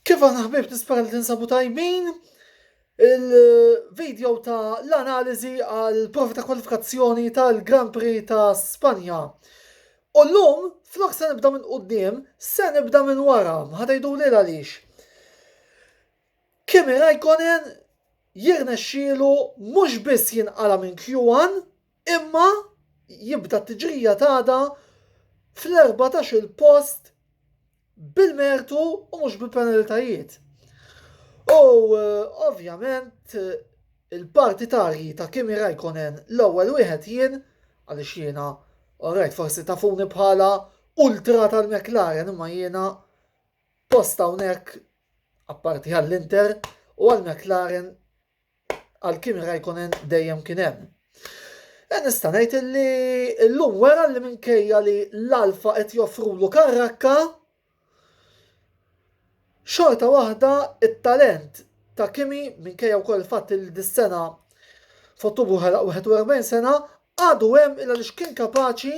Kif aħna ħbib nispera li tinsabu tajbin il-video ta' l-analizi għal provi ta' kwalifikazzjoni tal-Grand Prix ta' Spanja. U l-lum, flok se nibda minn qoddim, se nibda minn wara, ħadajdu li għalix. Kimi Raikkonen jirnexxielu mhux biss jinqala minn Q1, Imma jibda t-tiġrija t'għada fl-14-il post bil-mertu u mhux bi penalitajiet. U ovvjament il-partitarji ta' Kimi Raikkonen l-ewwel wieħed jien għaliex jiena orajt forsi tafuni bħala ultra tal-McLaren imma jiena post hawnhekk apparti għall-Inter u għall-McLaren Għal Kimi Raikkonen dejjem kien hemm. E nista' ngħid li llum wera li minkejja li l-Alfa qed joffrulu karrakka, xorta waħda it-talent ta' Kimi minkejja wkoll il-fatt li dis-sena f'Ottubru ħelaq 41 sena għadu hemm illa li kien kapaċi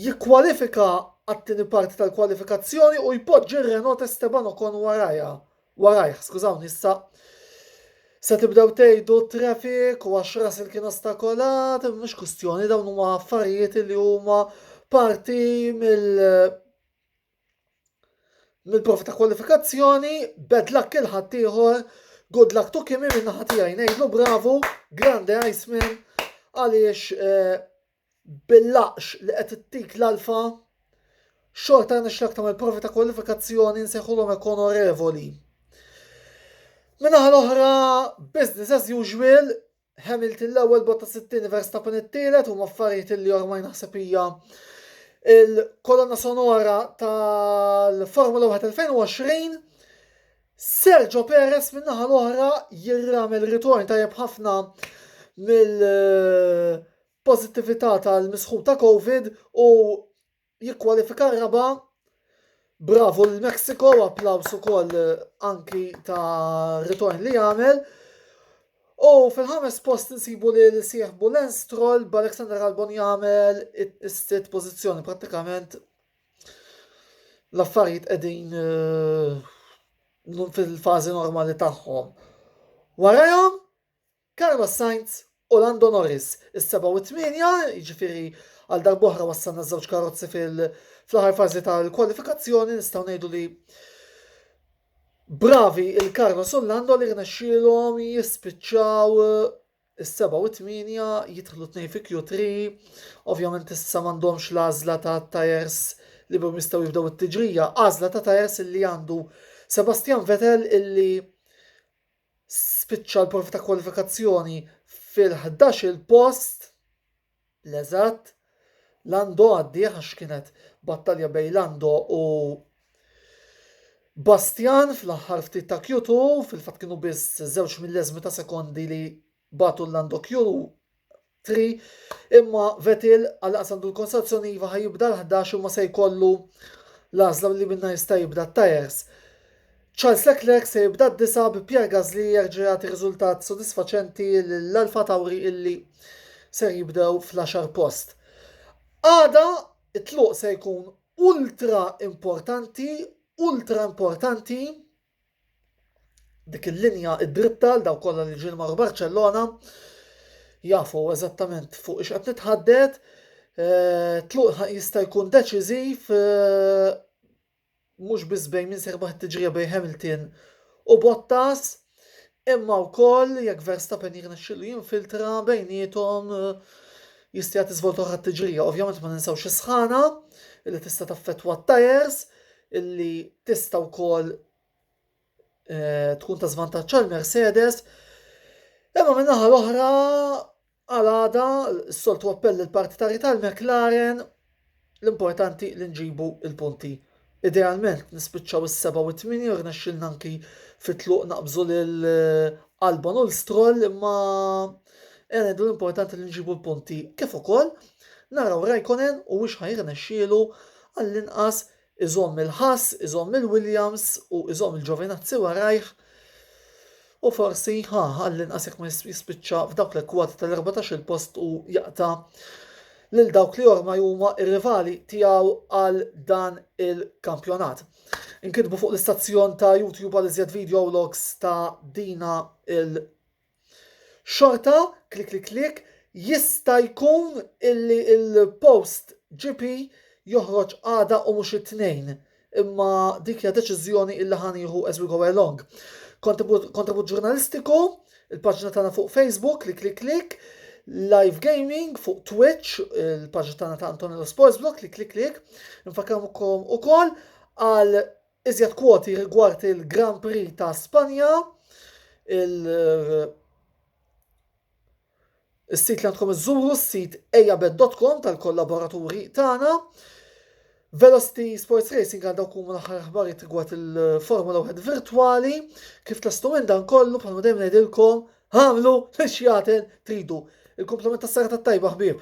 jikkwalifika għat-tieni parti tal-kwalifikazzjoni u jpoġġi r-Renault Esteban Ocon warajha Warajh, skużawni issa, se tibdew tgħidu traffic u għax Russell kien ostakolat, mhux kwistjoni dawn huma affarijiet li huma parti mill mill-profi ta' kwalifikazzjoni, bad luck il-ħadd ieħor, good luck to Kimi minn naħa tiegħi ngħidlu bravu, grande Iceman, għaliex eh, bil-laqx li qed ittik l-Alfa, xorta rnexxilek tagħmel provi ta' kwalifikazzjoni nsejħulhom hekk onorevoli. Min-naħa l-oħra, business as usual, Hamilton l-ewwel botta sittini Verstappen it-tielet huma affarijiet li ormaj naħseb hija il-kolonna sonora tal-Formula 1 2020. Sergio Perez min-naħa l-oħra jirramel ritorn tajjeb ħafna mill- pożittività tal-misħu ta' Covid u jikkwalifika r-raba'. Bravu lil Mexico u applaws ukoll anki ta' ritorn li għamel. U fil-ħames post insibu lil sieħbu Lance Stroll b'Alexander Albon jagħmel is-sitt pożizzjoni prattikament l-affarijiet qegħdin eh, fil-fażi normali tagħhom. Warajhom Carlos Sainz u Lando Norris, is-sebgħa u t-tmienja, jiġifieri għal darb'oħra wassalna ż-żewġ karozzi fl-aħħar fażi tal-kwalifikazzjoni, nistgħu ngħidu li bravi il-Carlos u Lando li rnexxielhom jispiċċaw is-seba' u t-tmienja jidħlu tnejn fi Q3, ovvjament issa m'għandhomx l-għażla ta' tajers li bhom jistgħu jibdew it-tiġrija, għażla ta' tajers li għandu Sebastian Vettel illi spiċċa l-provi ta' kwalifikazzjoni fil-ħdax-il post, l-eżatt, Lando għaddih għax kienet battalja bejn Lando u Bastian fl-aħħar ftit ta' Q2, fil-fatt kienu biss żewġ milleżmi ta' sekondi li bagħtu l-Lando Q3 imma Vettel għalaqas għandu l-konstazzjoni iva ħajibda l-11 imma se jkollu l-għażla li minna jista' jibda t-tajers. Charles Leclerc se jibda d-disa bi Pierre Gasly jerġa' jagħti riżultat sodisfaċenti l-Alfa Tauri illi ser jibdew fl-10 post. Għada it-tluq se jkun ultra importanti, ultra importanti dik il-linja id-dritta għal daw kollha li ġieli marru Barcellona jafu eżattament fuq ix qed nitħaddet. Eh, tluq jista' jkun deċiżiv eh, mhux biss bejn min serbaħ tiġrija bejn Hamilton u Bottas. Imma wkoll jekk Verstappen jirnexxielu jinfiltra bejniethom jista' jagħti żvolta oħra t-tiġrija. Ovvjament ma ninsewx is-sħana li tista' taffettwa t-tajers illi tista' wkoll eh, tkun ta' żvantaġġ għal Mercedes. Imma min-naħa l-oħra Għal għada, s-soltu appell lill-partitari tal-McLaren, l-importanti li nġibu l-punti. Idealment nispiċċaw is-seba' u t-tmini u rnexxilna anki fit-tluq naqbżu lil eh, Albon u l-Stroll imma eh, ngħidu l-importanti li nġibu l-punti kif ukoll naraw Raikkonen u wix ħajrnexxielu għall-inqas Iżomm il-Haas, iżomm il-Williams u iżomm il-Giovinazzi warajh u forsi, ha, għall-inqas jekk ma jispiċċa f'dawk l-ekkwati tal-erbatax-il post u jaqta' lil dawk li ormai huma r-rivali tiegħu għal dan il-kampjonat. Inkitbu fuq l-istazzjon ta' YouTube għal iżjed video logs ta' dina il Xorta, klik klik klik, jista' jkun illi l-post GP joħroġ għada u mhux it-Tnejn, imma dik hija deċiżjoni illi ħa nieħu as we go along. Kontribut ġurnalistiku, il-paġna tagħna fuq Facebook, klik klik klik, live gaming fuq Twitch, il-paġna tagħna ta' Antonello Sports Blog, klik klik klik, nfakkarkom ukoll għal Iżjed kwoti rigward il-Grand Prix ta' Spanja, il Is-sit li għandkom iżżuru, s-sit ejabed.com tal-kollaboraturi tagħna. Velocity Sports Racing għandha kum l-aħħar aħbarijiet rigward il-Formula 1 virtwali, kif tastu minn dan kollu bħalma dejjem ngħidilkom għamlu l-xjaten tridu. Il-komplement tas-sara tat-tajba ħbieb.